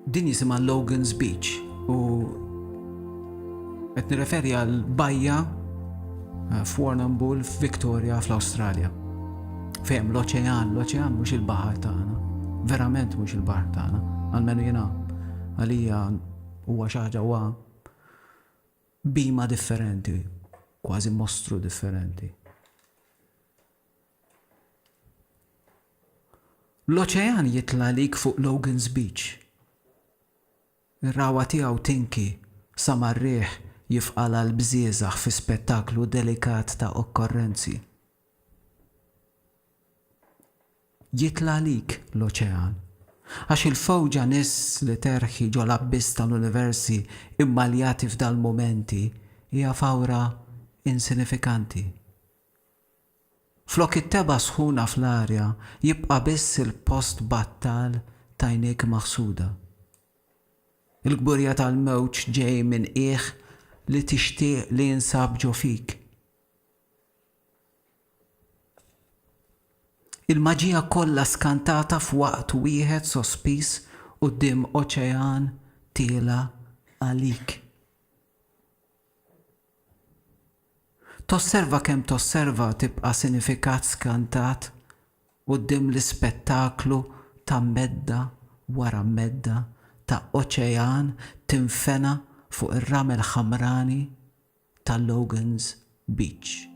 Din jisimha Logan's Beach u qed nirreferi għal bajja eh, f'Warrnambool f'Victoria fl-Awstralja. Fehem l-oċean, l-oċean mhux il-baħar tagħna. Verament mhux il-baħar tagħna, għalmenu jiena għalija huwa xi ħaġa huwa bima differenti, kważi mostru differenti. L-oċean jitla' għalik fuq Logan's Beach. Ir-ragħwa tiegħu tinki sa mar-riħ jifqalha l-bżieżaħ fi spettaklu delikat ta' okkorrenzi. Jitla' għalik l-oċean, għax il-fewġa niżs li terħi ġol-abbiss tal-universi mmaljati f'dal-mumenti hija fawra insinifikanti. Flok it-tebgħa sħuna fl-arja jibqa' biss il-post battal t'għajnejk maħsuda. Il-kburja tal-mewġ ġej minn qiegħ li tixtieq li jinsab ġo fik. Il-maġija kollha skantata f'waqt wieħed sospiż quddiem oċean tiela' għalik. Tosserva kemm tosserva tibqa' sinifikat skantat quddiem l-ispettaklu ta' medda wara medda ta' oċean tinfena fuq ir-ramel ħamrani ta' Logan's Beach.